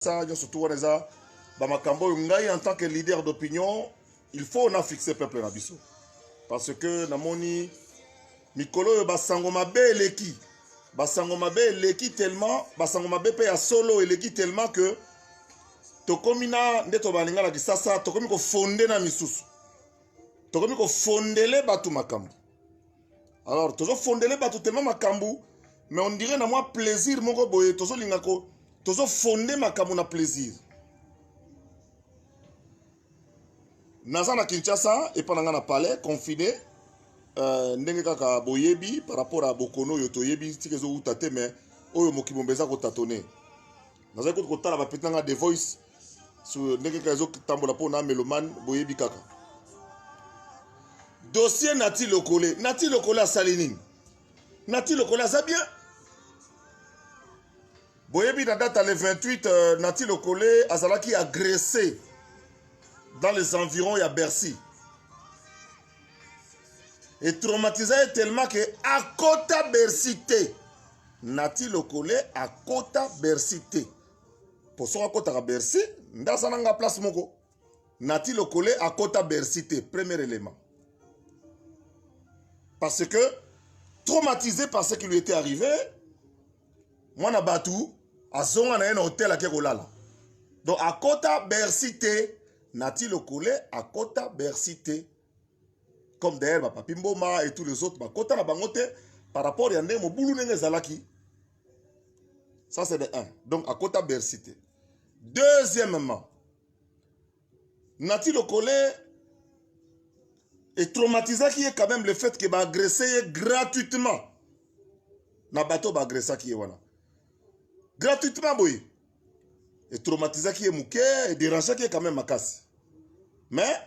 ça nyonso tout wana eza bamakambo oyo ngai en tant que leader d'opinion il faut na fixe peuple na biso parce que namoni mikolo oyo basango mabe eleki basango mabe eleki tellement basango mabe mpe ya solo eleki tellement que tokomi na nde tobalinga na kisasa tokomi kofonde na misusu tokomi kofondele bato makambo alors tozo fondele bato tellement makambu mais on dirait na mwa plaisir moko boye tozolinga ko tozo fonde makambo na plaisir naza na kinshasa epa na ngai na palais confine euh, ndenge kaka boyebi par rapport ya bokono oyo toyebi tika ezowuta te mais oyo mokili momba eza kotatone nazali kutu kotala bapeti na ngai the voice so ndenge kaka ezotambola mpo na melomane boyebi kaka dossier nati lokole nati lokole asali nini nati lokole aza bien boyebi na date ya le 28 euh, nati lokole azalaki agressé dans les environs ya bercy etraumatisa ye tellement ke akota bercy te Nati Lokole akota Bercy te. Po soki akotaka Bercy, nda aza na nga place moko. Nati Lokole akota Bercy te, premier élément. Parce que traumatisé par ce qui lui était arrivé, mwana batu azonga na ye na hotel ake kolala. Donc akota Bercy te. Nati Lokole akota Bercy te. comme d'ailleurs bapapi mboma et tous les autres bakota na bango te par rapport ya ndenge mobulu ndenge ezalaki ça c'est de 1 donc akota bercy te deuxièmement nati lokole etraumatisaki ye quand même le fait que baagresse ye gratuitement na bato baagressaki ye wana gratuitement boye e traumatisaki ye moke e derangeaki ye quand même makasi mais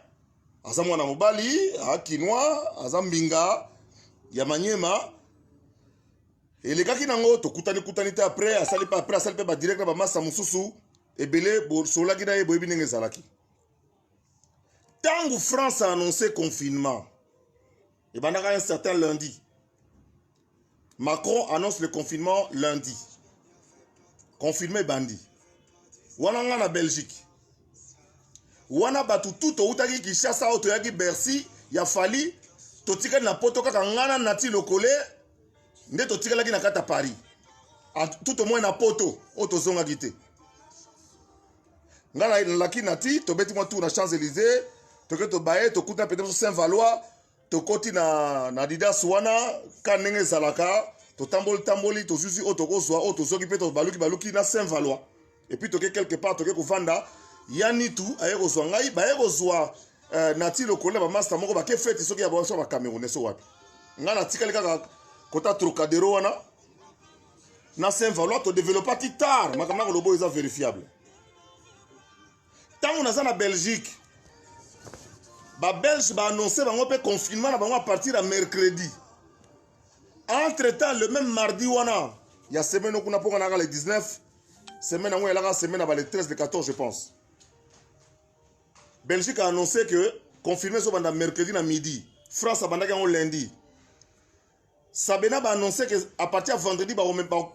aza mwana mobali akinois aza mbinga ya manyema elekaki nango tokutani kutani te après asali pe après asali pe badirect na bamasa mosusu ebele bosololaki na ye boyebi ndenge ezalaki ntango france a annonce confinement ebandaka un certain lundi Macron annonce le confinement lundi. Confirme bandi. Wana nga na Belgique. Wana bato tout toutaki Kinshasa oyo toyaki Bercy ya Fally totikali na poto kaka ngana nati lokole nde totikalaki na kati ya Paris. Tout au moins na poto oyo tozongaki te. Nga na laki nati tobeti mwa tour na Champs-Élysées toke tobaye tokuta pete biso Saint-Valois tokoti na, na adidas wana ka ndenge ezalaka totamboli tamboli tozuzi oyo tokozwa oyo tozoki mpe tobaluki baluki na saint valois epuis toke quelque part toke kovanda ya nitu aye kozwa ngai baye kozwa eh, nati lokolo na bamasta moko bake feti soki ya baso bacamerounais so wapi ngai natikali kaka kota trocadero wana na saint valois todeveloppaki tard makambo na koloba oyo eza verifiable Tango naza na Belgique, ba Belges ba annoncer bango pe confinement na bango à partir ya mercredi. Entre temps, le même mardi wana ya semaine kuna poko naka le 19, semaine yango elaka semaine ya ba le 13 le 14 je pense. Belgique a annoncé que confirmé ezobanda mercredi na midi. France abandaki yango lundi. Sabena ba annoncer que à partir ya vendredi ba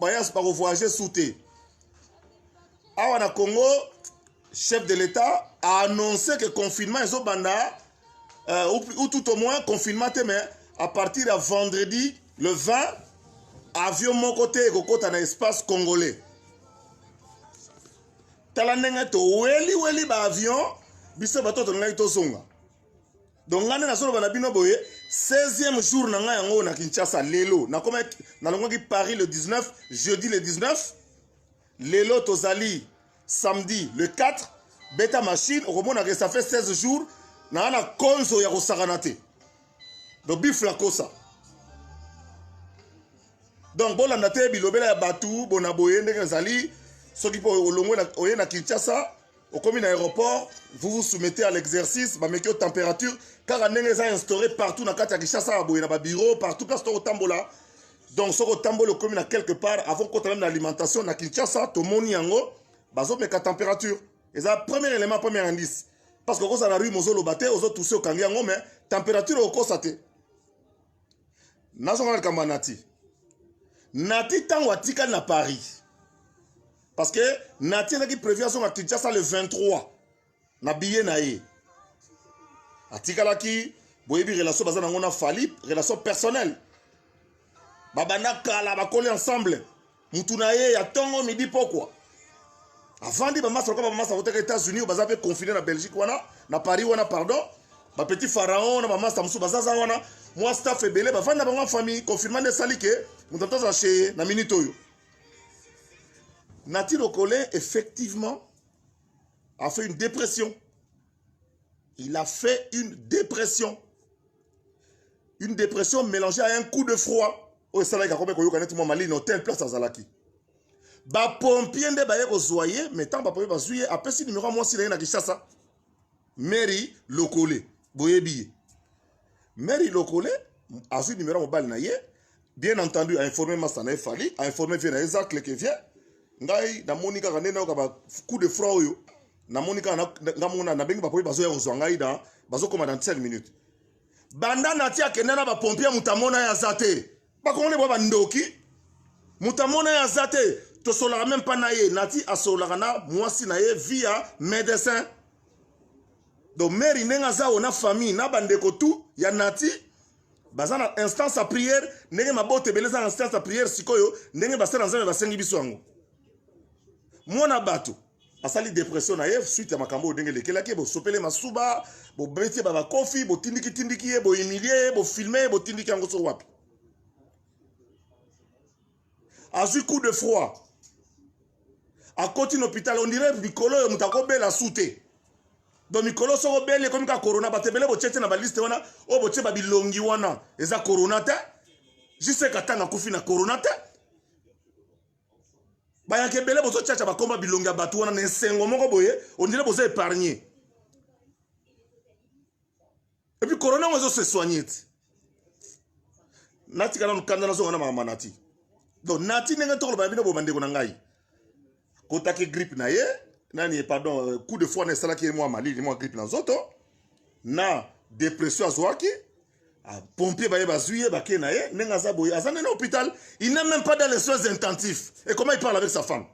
bayas ba voyager sous te. Awa na Congo chef de l'État a annoncé que confinement est au Banda, euh, ou, ou, tout au moins confinement, mais à partir de vendredi, le 20, avion mon côté et côté dans l'espace congolais. Talanenga to weli weli ba avion, biso bato to ngai to songa. donc ngai nde nazoloba na bino boye 16e jour na ngai yango oyo na kinshasa lelo nalongwaki paris le 19 jeudi le 19 lelo tozali samedi le 4 beta machine okomonaka ça fait 16 jours naa na konzo ya kosakana te donc bifla kosa donc bolanda te bilobela ya bato bona boye ndenge ezali soki mpo olongwe oye na kinshasa okomi na aéroport vous vous soumettez à l'exercice bameki yo température kaka ndenge eza instauré partout na kati ya kinshasa ya boye na babureau partout place to kotambola donc soki otamboli okomi na quelque part avant kota meme na alimentation na kinshasa tomoni yango bazomeka température eza premier élément premier indice parce que okozala na rue mozoloba te ozotuse okangi yango mais température okosa te nazonga na likambo ya nati nati ntango atikali na paris parce que nati ezalaki prévu azonga kinshasa le 23 na biye na ye atikalaki boyebi relation baza nango na fali relation personnelle babanda kala bakoli ensemble mutu na ye ya tongo midi pokwa avandi bamasa lokola bamasa koteka états-unis baza mpe confine na belgique wana na paris wana pardon bapetit pharaon na bamasa mosusu bazaza wana mwa staff ebele bavandi na bango ya famille confirma nde esali ke moto atozala cheye na minute oyo nati lokole effectivement a fait une dépression Il a fait une dépression. Une dépression mélangée à un coup de froid. Oyo esalaki akomi koyoka neti mwa malini hotel place azalaki. Bapompier nde baye kozwa ye, mais ntango bapompier bazwi ye, apesi nimero ya mwasi na ye na Kinshasa, Mary Lokole. Boyebi ye. Mère Ilokole azui numéro mobali na ye bien entendu a informer masta na ye Fally a informer vieux na ye Zacle que vieux ngai namoni kaka nde nayoka ba coup de froid oyo namoni kaka nga mona nabengi bapoyi bazoya kozwa ngai na bazokoma dans 5 minutes banda nati akenda na bapompier moto amona ye aza te Ba congolais ba bandoki. Mutamona ya zate tosolaka même pas na ye nati asolaka na mwasi na ye via médecin donc mary ndenge aza oyo na famille na bandeko tout ya nati baza na instance ya prière ndenge mabota ebele eza na instance ya prière sikoyo ndenge basala nzambe basengi biso yango mwana bato asali depression na ye suite ya makambo oyo ndenge elekelaki ye bosopele masuba bobeti ye babakofi botindikitindiki ye bohumilie ye bofilme ye botindiki yango so wapi azwi coup de froid akoti na hôpital ondire mikolo oyo moto akobela su te do mikolo soko obeli ekomi ka corona bato ebele botie te na baliste wana oyo botie babilongi wana eza corona te jiseka ntango akufi na corona te bayaka ebele bozocaca bakoma bilongi ya bato wana na esengo moko boye ondire boza épargne epuis corona yango ezose soigne ti natika nanu kanda nazonga na makambo nati donc nati ndenge tokoloba na bino bo bandeko na ngai kotaki grippe na ye nani pardon euh, coup de foi na esalaki ye mwa malili mwa grippe na nzoto na depression azwaki Ah, pompier baye bazui ye bake na ye ndenge aza boye aza nde na hôpital il n'est même pas dans les soins intensifs et comment il parle avec sa femme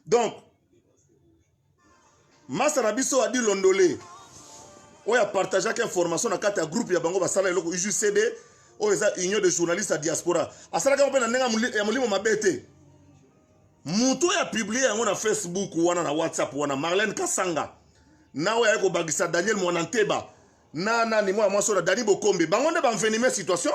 donc masa na biso adi londole oyo apartageaki information na kati ya groupe ya bango basala eloko ujcd oyo eza union de journaliste ya diaspora asalaki yango mpe na ndenge ya molimo mabe te moto oyo apiblie yango na facebook wana na whatsapp wana marlene kasanga na oyo ayaki kobakisa daniel mwana nteba na nani mwana mwasi oyo na dani bokombe bango nde banvenime situation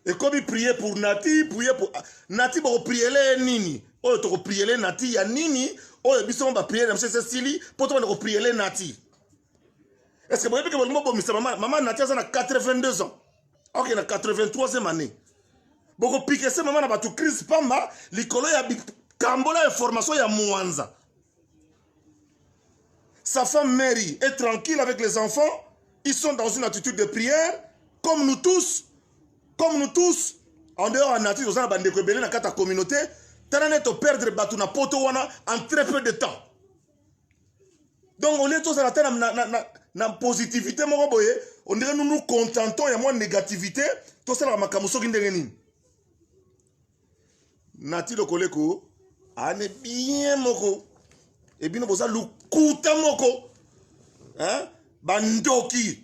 ekomi prie pour nati prie pour ah, nati bokopriele ye nini oyo tokopriele nati ya nini oyo biso mo bapriele na biso esi esili mpo tobanda kopriele nati estce boyebi ke bolingi bobomisa mama mama nati aza na 82 ans ok na 83e année bokopike se mama na bato crise pamba likolo ya bikambola ya formation ya mwanza sa femme mary est tranquille avec les enfants ils sont dans une attitude de prière comme nous tous comme nous tous en dehors ya nature toza na bandeko ebele na kati ya communauté tala nde toperdre bato na poto wana en très peu de temps donc olie tozala ata na, na, na, na positivité moko boye ondire nous nous contentons ya mwa négativité tosalaka makambo soki ndenge nini nati lokoleko ane bien moko ebino boza lokuta moko hein? bandoki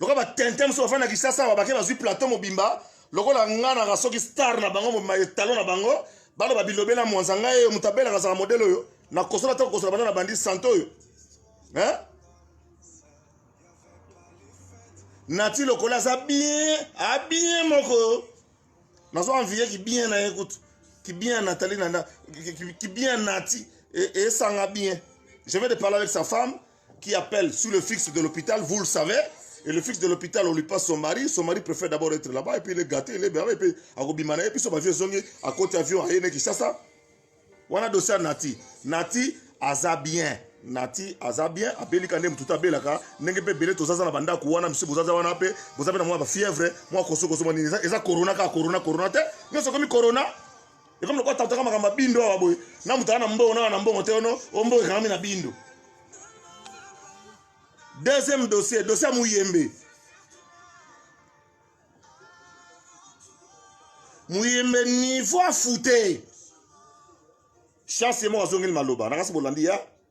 lokola ba tintin mosusu bafandi na kisasa awa bake bazwi plateau mobimba lokola nga naka soki star na bango mobimba etalo na bango baloba bilobe na mwanza ngai oyo moto abelaka azala modele oyo nakosola te kokosola banda na bandi sante oyo eh? nati lokola aza bien abien moko nazo envie kibien na ye kutu kibien natali na kibien nati esanga bien je vais de parler avec sa femme qui appelle sur le fixe de l'hôpital, vous le savez. Et le fixe de l'hôpital, on lui passe son mari. Son mari préfère d'abord être là-bas, et puis il est gâté, il est bien, et puis à Robimana, et puis son vieux zongi, à côté avion, à Yéné, Kishasa. Wana dossier Nati. Nati, aza bien. Nati, aza bien. Abeli kande mtuta belaka. Nenge pe bele tozaza na banda kuwana, msi bozaza wana pe. Bozaza na mwa ba fièvre, mwa koso koso mwa nini. Eza corona ka corona, corona te. Nyo sokomi corona. ekomi lokola tantaka makambo ya bindo awa boye na moto aa na mbongo na na mbongo te ono o mbongo ekangami na bindo deuxième dossier dossier ya muyembe muyembe niveau afute chance ye moko azongeli maloba nakasi bolandi ya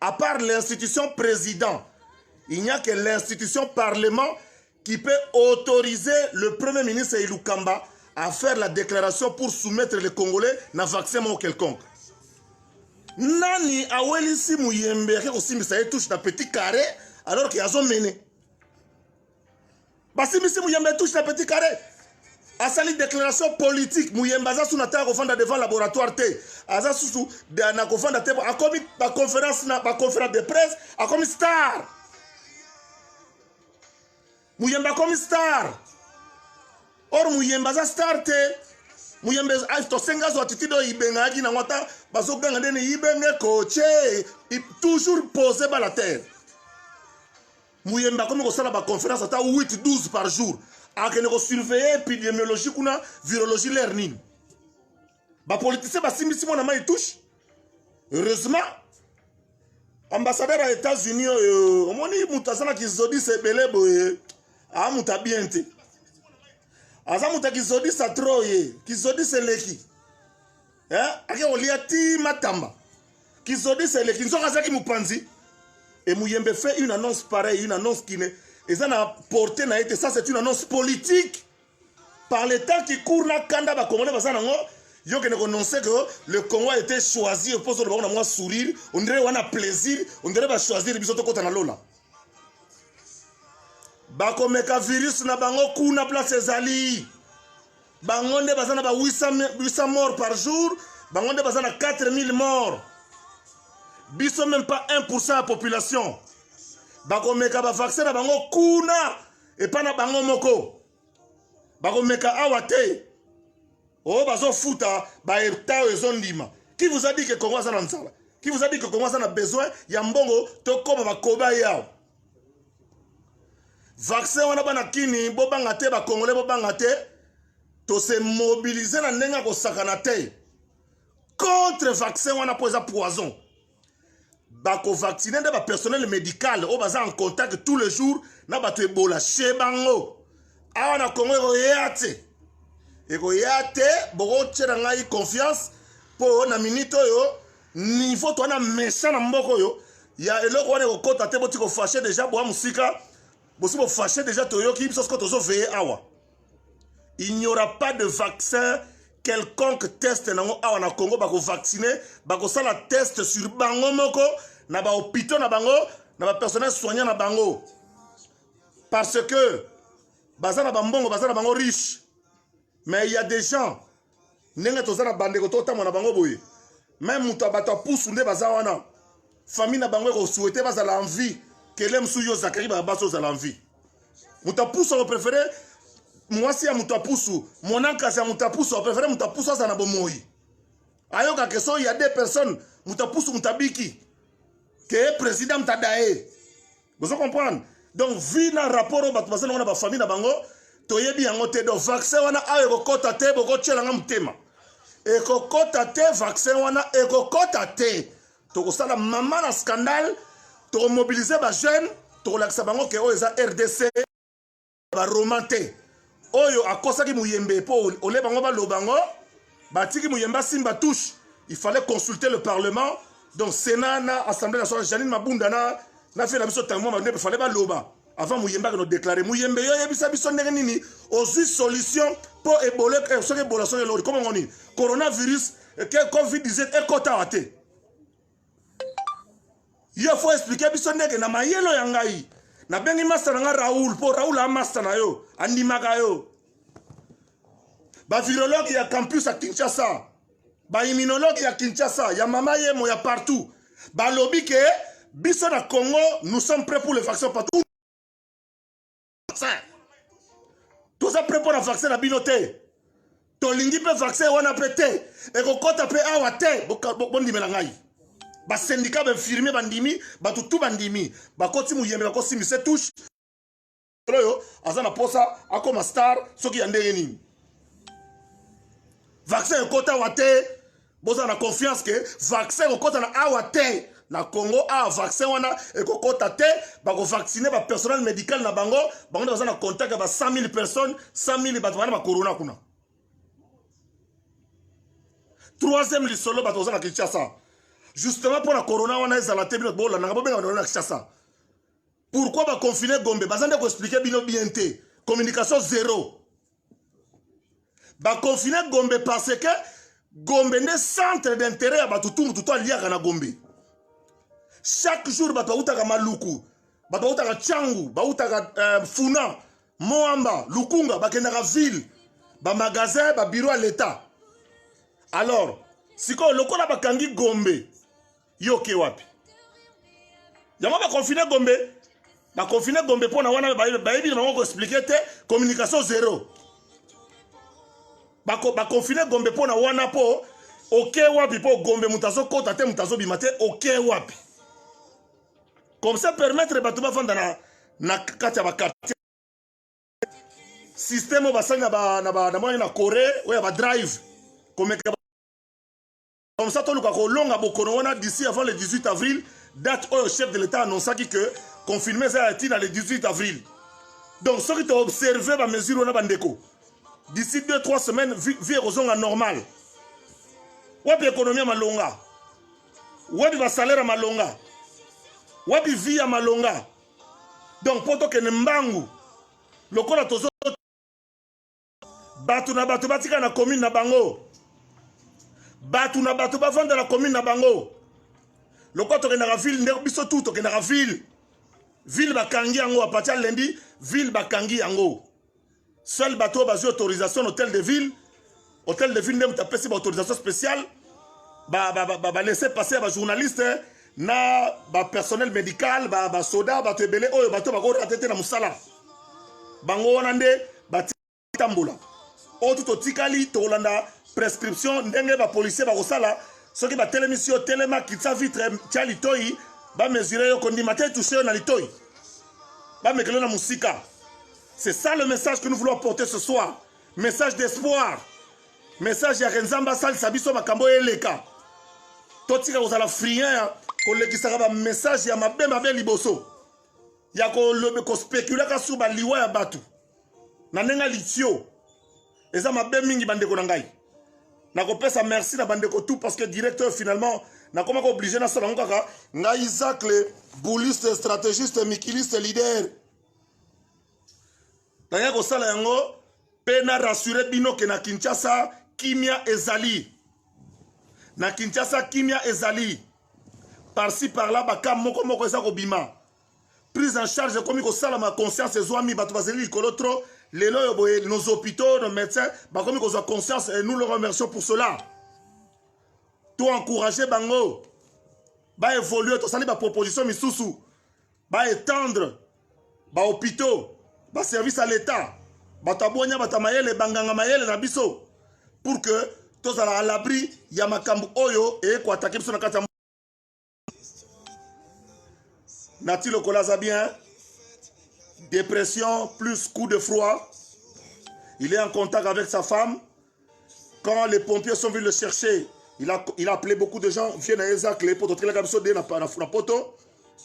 À part l'institution président, il n'y a que l'institution parlement qui peut autoriser le premier ministre Ilukamba à faire la déclaration pour soumettre les Congolais na vaccin ou quelconque. Nani awelisi muyembe yake kosimbisa ye touche na petit carré alors qu'il azomene basimbisi muyembe touche na petit carré asali déclaration politique muyembe aza susu na ntango akofanda devant laboratoire te aza susu na kofanda te akomi baconférence na baconférence de presse akomi star muyembe akomi star or muyembe aza star te muyembe ah, tosenga azwa attitude oyo ibengaki nango ata bazoganga ndeni ibenge koce toujours pose bala terre muyembe akomi kosala ba conference ata 8 12 par jour akende ko surveiller epidemiologie kuna virologie l'air nini ba politiciens basimbisi mwana mai touche heureusement ambassadeur ya états-unis oyo omoni moto aza na kizodisa ebele boye aa moto ya bien te aza moto ya kizodisa tro ye kizodisa eleki eh? ake kolia ti matamba kizodisa eleki nzoka azalaki mopanzi et muyembe fait une annonce pareille une annonce qui ne eza na porte na ye te ça c'est une annonce politique par le temps qui court na kanda bakongole baza nango yo kende kononse que le congo a été choisi mpo ozoloba ngo na mwa sourire ondire wana plaisir ondire bachoisir biso tokɔta na lola bakomeka virus na bango kuna place ezali bango nde baza na ba 800 morts par jour bango nde baza na 4000 morts biso même pas 1 ya population bakomeka bavaccin na bango kuna epai na bango moko bakomeka awa te oyo oh, bazofuta baeta oyo ezondima qui vous a dit que congo aza na nzala qui vous a dit que congo aza na besoin ya mbongo tokoma bakoba ye awa vaccin wana bana kini bobanga te bakongole bobanga te tose mobilize na ndenge ya kosakana te contre vaccin wana mpo eza poison bakovaccine nde bapersonnel médical oyo baza en contact tous les jours na bato ebola chez bango awa na congo ekoya te ekoya te bokotyela ngai confiance mpo na minute oyo niveau toana méchant na mboka oyo ya eloko wana ekokota te boti kofashe deja boa mosika bosi bofashe deja toyoki biso soko tozoveye awa il n'y aura pas de vaccin quelconque test nango awa na congo bakovaccine bakosala test sur bango moko na bahopitaux na bango na bapersonnel soignant na bango parce que baza na bambongo baza na bango riche mais il y a des gens ndenge toza na bandeko totambwa na bango boye meme moto ya bato ya pusu nde baza wana famille na bango ekosouhaite bazala en vie kele mosusu yo zakari babasi ozala en vie moto ya pusu akoprefere mwasi ya moto ya pusu monankasi ya moto ya pusu akoprefere moto ya pusu azala na bomoi ayoka ke soki ya deux personnes moto ya pusu moto abiki ke ye président moto adaye bozo comprendre donc vie na rapport oyo bato baza nango na bafamille na bango toyebi yango te donc vaccin wana awa ekokɔta te bokotyela nga motema ekokɔta te vaccin wana ekokɔta te tokosala mama na scandale tokomobilize bajeune tokolakisa bango ke oyo eza rdc ba roman te oyo akosaki muyembe mpo ole bango baloba ngo batiki muyembe asimba touche il fallait consulter le parlement donc sénat na assemblée nationale janine mabunda na na fie na biso ntango mwa mandepe fallait baloba avant muyembe akende odeklare muyembe yo oyebisa biso ndenge nini ozwi solution mpo ebole eh, soki ebola soki elori komongo nini coronavirus eh, covid 19 ekotaka te yo fo explike biso ndenge na mayelo ya ngai nabengi masta na ngai raoul mpo raoul amasta na yo andimaka yo bavirologue ya campus ya kinshasa baimmunologue ya kinshasa ya mama yemo ya partout balobi ke biso na congo nous sommes prêt pour le vaccin partout vaccin toza mpe mpo na vaccin na bino te tolingi mpe vaccin wana mpe te ekokɔta mpe awa te bondimela ngai basendika bainfirmier bandimi bato tu bandimi bakoti moyembe bakosi mise touche oyo aza na mposa akoma star soki ya ndenge nini vaccin ekota wa te boza na confiance ke vaccin ekokota na awa te na congo awa vaccin wana ekokota te bakovaccine bapersonnel médical na bango bango nde baza na contact ya ba 100 000 personnes 100 000 bato bana bacorona kuna troisième lisolo bato baza na kinshasa justement mpo na corona wana ezala te bino bolandaka bobenga bana na kinshasa pourquoi baconfine gombe baza nde koexplike bino bien te communication zero baconfine gombe parce que gombe nde centre d'intérêt ya bato tu motu to aliaka na gombe chaque jour bato bautaka maluku bato bautaka cangu bautaka euh, funa moamba lukunga bakendaka ville bamagasin babiro ya leta alors sikoyo lokola bakangi gombe yo oke wapi yango bakonfine gombe bakonfine gombe mpo na wana bayebi na bango koexplike te communication zero bakonfine gombe mpo na wana mpo oke wapi mpo gombe moto azokota te moto azobima te oke wapi comme ça permettre bato bafanda na, na kati ya bakartier systeme oyo basali na, na, na, na, na corée oyo ya badrive komeka Comme ça, toluka kolonga bokono wana d'ici avant le 18 avril, date oyo chef de l'État annonçaki que confinement eza ya ntina le 18 avril. Donc soki to observer ba mesures wana bandeko, d'ici 2-3 semaines vie ekozonga normal. Wapi ekonomi ya malonga? Wapi ba salaire ya malonga? Wapi vie ya malonga? Donc mpo tokende mbangu lokola tozo bato na bato batika na commune na bango bato na bato bavanda na commune na bango lokola tokendaka ville nde biso tu tokendaka ville ville bakangi yango apati ya lendi ville bakangi yango seul bato oyo bazwi autorisation na hôtel de ville hôtel de ville nde moto apesi baautorisation spéciale balese ba, ba, ba, ba passe ya bajournaliste na ba personnel medical ba ba soda bato ebele oyo bato bako rate te na mosala bango wana nde batambola oyo tu totikali tokolanda prescription ndenge ba policier bakosala soki batelemisi yo telema kitisa vitre tya litoi bamesure yo kondima te touche yo na litoi bamekeli yo na mosika c'est ça le message que nous voulons porter ce soir message d'espoir message ya renzambe asalisa biso makambo oyo eleka totika kozala friand ya kolekisaka bamessage ya mabe mabe liboso ya kospekulaka sur baliwa ya bato na ndenge ya litio eza mabe mingi bandeko na ngai nakopesa merci na bandeko tout parce que directeur finalement nakoma ko oblige nasala yango kaka ngai isacle bouliste stratégiste mikiliste leader naya kosala yango mpe na rassure bino ke na kinshasa kimia ezali na kinshasa kimia ezali parci parla baka moko moko eza kobima prise en charge ekomi kosalama conscience ezwami bato bazali likolo trop lelo oyo boye nos hôpitaux nos médecins bakomi kozwa conscience et nous le remercions pour cela to encourage bango baévolue tosali baproposition misusu ba étendre ba hôpitaux ba service à l'état bato ya bonya bato ya mayele banganga mayele na biso pour que tozala à l'abri ya makambo oyo eye koatake biso na kati ya nati lokola aza bien dépression plus coup de froid il est en contact avec sa femme quand les pompiers sont venus le chercher il a, il a appelé beaucoup de gens vie na ye eza clé poto tokelaka biso de na, na, na poto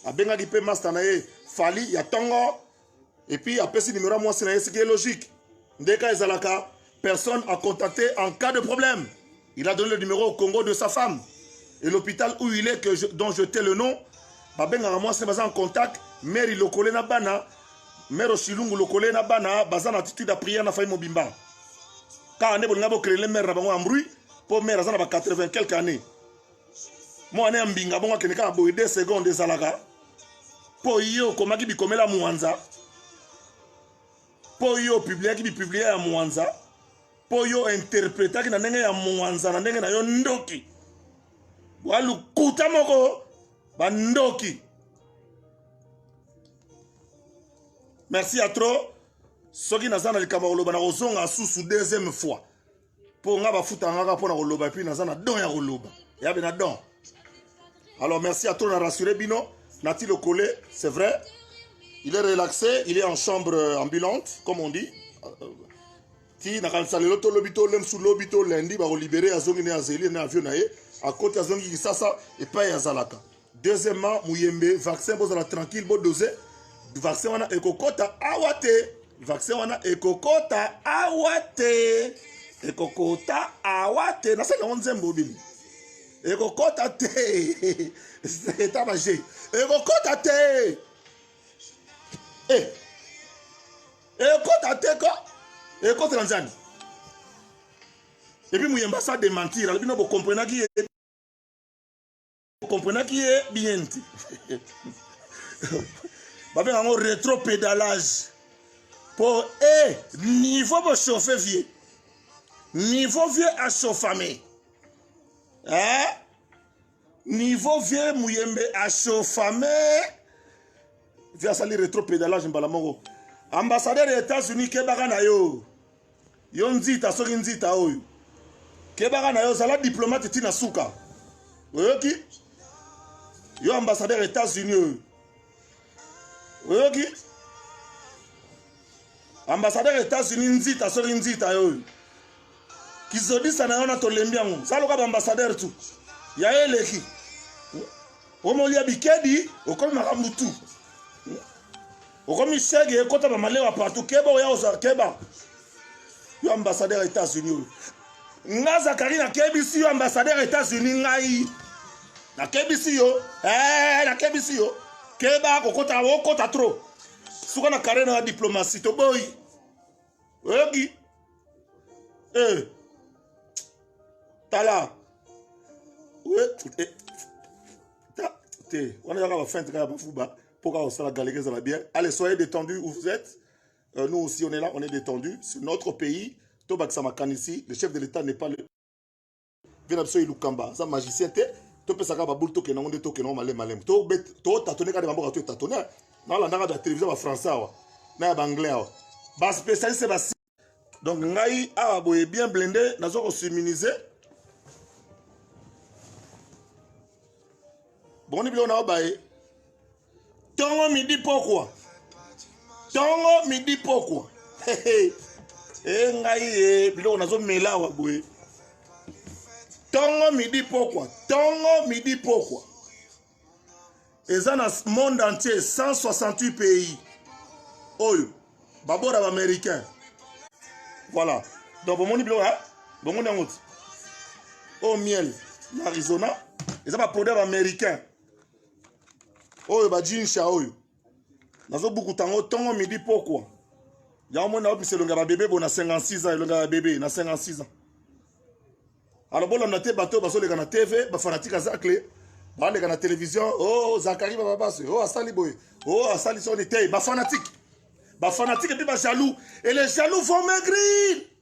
abengaki mpe master na ye fali ya tongo et puis apesi numero ya mwasi na ye ce qui est logique nde ka ezalaka personne à contacter en cas de problème il a donné le numéro au congo de sa femme et l'hôpital où il est que je, dont je tais le nom babengaka mwasi na baza en contact mary lokole na bana Mère Osilungu lokole na bana baza na attitude ya prière na famille mobimba. Kaka nde bolinga bo créer mère na bango en bruit po mère aza na ba 80 quelques années. Mwana ya mbinga bongo akende kaka boye 2 secondes ezalaka po ye okomaki bikomela mwanza po yo opubliaki bipiblia ya mwanza po yo interpretaki na ndenge ya mwanza na ndenge na yo ndoki bwa lokuta moko bandoki merci ya trop soki naza na likambo ya koloba na kozonga susu deuxième fois mpo nga bafuta ngaka mpo na koloba epuis naza na don ya koloba yabe na don alors merci ya trop na rassure bino nati lokole c'est vrai il est relaxé il est en chambre ambulante comme on dit ti nakanisa lelo to lobi to lemsu lobi to lendi bakolibere azongi ne azeli na avion na ye akoti azongi kisasa epai azalaka Deuxièmement, Muyembe, vaccin bozala tranquille, bo dose. Vaccin wana ekokota awa te. Vaccin wana ekokota awa te. Ekokota awa te. Nasali yango nzembo bini. Ekokota te. Eta maje. Ekokota te. Eh. Ekokota te ko. Ekokota nzani. Et puis Muyemba ça démentir. Alors bino bo comprenaki comprenaki ye bien te babenga yango retro pédalage mpo e eh, niveau bochauffe vieux niveau vieux achauffame eh? niveau vieux muyembe achauffame vieux asali retro pédalage mbala moko ambassadeur ya états-unis kebaka na yo yo nzita soki nzita oyo kebaka na yo zala diplomate ti na suka oyoki yo ambassadeur ya états-unis oyo oyoki ambassadeur ya états-unis nzita soki nzita yo oyo kizodisa na yo na tolembi yango saloka baambassadeur tu ya ye eleki omolia bikedi okomi makambo tu okomi sege ekota ba malewa partout keba oya ozala keba yo ambassadeur ya états-unis oyo nga zakari nakebisi yo ambassadeur ya états-unis ngai nakebisi yo eh, nakebisi yo keba kokota okota trop suka na kare na ya diplomatie toboyi oyoki eh. tala te wana ezaka bafinte kaka bafuba Pour qu'on soit galère, ça va bien. Allez, soyez détendus où vous êtes. Euh, nous aussi, on est là, on est détendus. C'est notre pays. Tobak Samakan ici, le chef de l'État n'est pas le. Venapso Ilukamba, ça magicien, t'es. topesaka baboule tokende yango nde tokende yango malema malema totatone kaka bamboka toetatone nalandaka ba télévision bafrançais awa na ya baanglais awa baspécialiste basi donc ngai awa boye bien blende naza kosiminize boni biloko nao baye tongo midi pokwa tongo midi pokwa e eh, ngai e biloko nazomela awa boye tongo midi pokwa tongo midi pokwa eza na monde entier 168 pays oyo babora baaméricain voilà donc bomoni biloko ya bomoni yango ti oyo miel na arizona eza baproduit ya baaméricain oyo bajinsha oyo nazobukuta yango ntongo midi pokwa yango moni naopesa elongi ya babebe bo na 56 ans elongi ya babebe na 56 ans alors bolanda te bato oyo bazoleka na tv bafanatike azacle baleka na televizio o oh, zakari bababasi o oh, asali boye o oh, asali soni te bafanatike bafanatike mpe bajaloux et les jaloux vont maigrir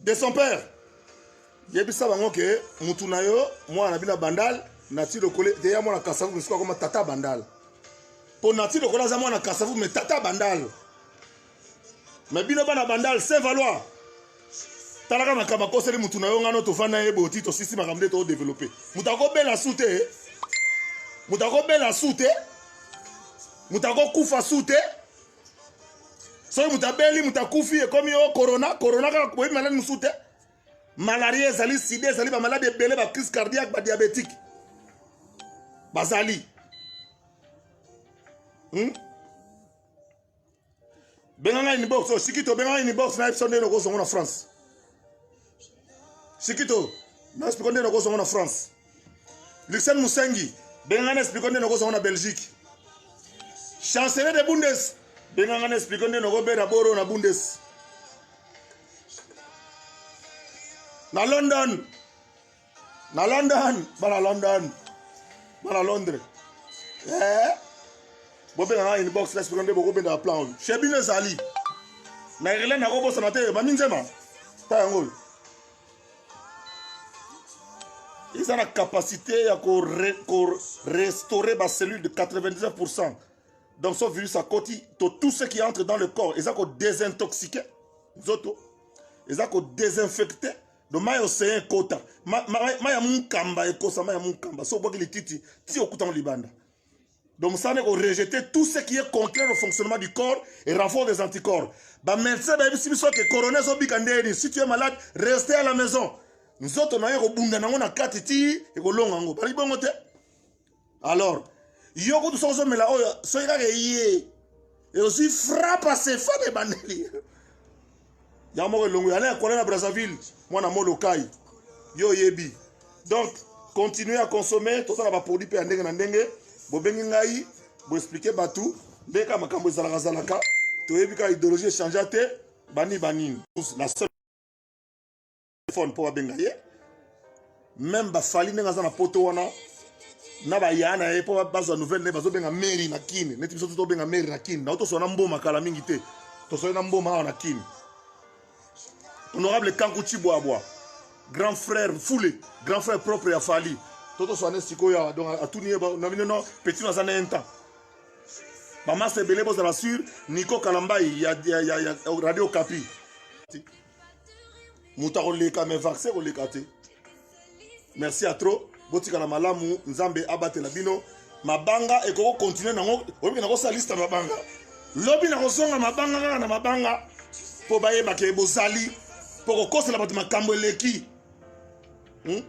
de son père yebisa bango ke mutu na yo mwana na bino ya bandal nati lokole te ya mwana kasavu misuku akoma tata bandal mpo nati lokole aza mwana kasavu me tata bandal me bino bana bandal saint valois talaka makambo akoseli mutu na yo ngano tofanda ye boti tosisi makambo nde todeveloppe moto akobela su te moto akobela su te moto akokufa su te soki moto abeli moto akufi ekomi o oh, corona corona kaka boyebi maladi mosusu te malaria ezali sida ezali bamaladi ebele bacrise cardiaque badiabétique bazali hmm? benga ngai nibox osiki oh, to benga ngai nibox na episode nde nokozongo na france sikito na explique nde nakozongo na france luxen musengi benga na explique nde nakozongo na belgique chancelier de bundes benga nga na explique nde nakobera boro na bundes na london na london bana london bana londres eh? bobenga nga inbox respect nde bokobendaka plan oyo chez bino ezali na irlande nakobosana te mami nzema ta yango oyo eza na capacité ya korestaurer ko bacellule de 99 pourcent donc so virus akoti to tout ce qui entre dans le corps eza kodesintoxique nzoto eza kodesinfecte donc mai ocean ekota mai ya mukamba ekosa mai ya mukamba so obwaki lititi ti okutango libanda donc mosala ko rejeter tout ce qui est contraire au fonctionnement du corps et renfort des anticorps bamédecin bayebisi biso ke corona ezobika ndeni si tu es malade reste à la maison nzoto na yo ekobunda nango na kati ti ekolonga yango bali bongo te alors yo kutu soki ozomela oyo soki kaka eye ozwi frappe asefana ebandeli yango moko elongo yana ekola na brazzaville mwana molokai yo oyebi donc continue à consommer tosala baproduit mpe ya ndenge na ndenge bobengi ngai boexplike bato nde kaka makambo ezalakazalaka toyebi kaka idéologie echangea te bani banini la seule phone mpo babenga ye meme bafali ndenge aza na poto wana na baya na ye mpo bazwa nouvelle na ye bazobenga mary na kine neti biso tobenga mary na kine nao toswa na mboma kala mingi te toswali na mboma awa na kine honorable kanku cibwabwa grand frère fule grand frère propre ya fali to toswa ne sikoyo awa donc atuni ye na bino no petit no aza na un temps bamasa ebele bozala sur niko kalambai ya, ya, ya, ya radio kapi moto akoleka me vaccin koleka te merci ya trop botikala malamu nzambe abatela bino mabanga ekoki kokontinue nango oyebi nakosala liste ya mabanga lobi nakozonga mabanga kaka na mabanga mpo bayebake bozali mpo kokosela bato makambo eleki hmm?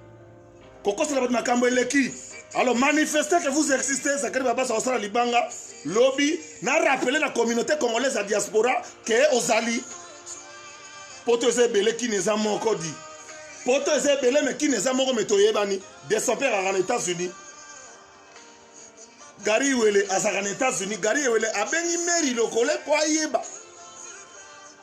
kokosela bato makambo eleki alors manifester que vous existez zakari babasa kosala libanga lobi na rappeler na communauté congolaise ya diaspora ke ozali poto eza ebele kini eza moko di poto eza ebele me kini eza moko me toyebani de son père aka na états-unis gari wele azalaka na états-unis gari wele abengi meri lokole mpo ayeba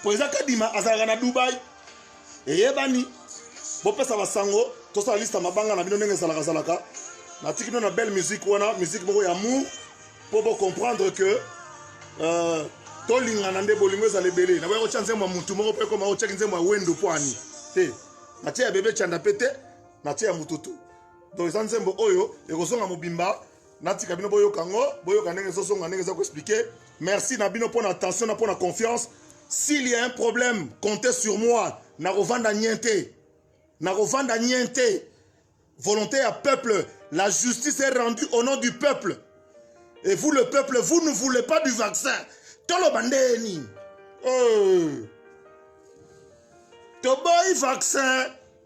mpo eza kadima azalaka na dubai eyebani bopesa basango tosala liste ya mabanga na bino ndenge ezalakazalaka natiki bino na belle musique wana musique moko ya amour mpo bocomprendre que euh, tolingana nde bolingo ezala ebele naboya kotya nzembo ya motu moko mpe ekoma otyaki nzembo ya wendo mpo ani te natye ya bebe canda mpe te natye ya motutu donc eza nzembo oyo ekozonga mobimba natika bino boyoka yango boyoka ndenge ezozonga ndenge eza koexplike merci na bino mpo na attention na mpo na confiance s'il y a un problème compte sur moi nakovanda nien te nakovanda nien te volonté ya peuple la justice est rendue au nom du peuple et vous le peuple vous ne voulez pas du vaccin toloba ndenge nini oh. toboyi vaccin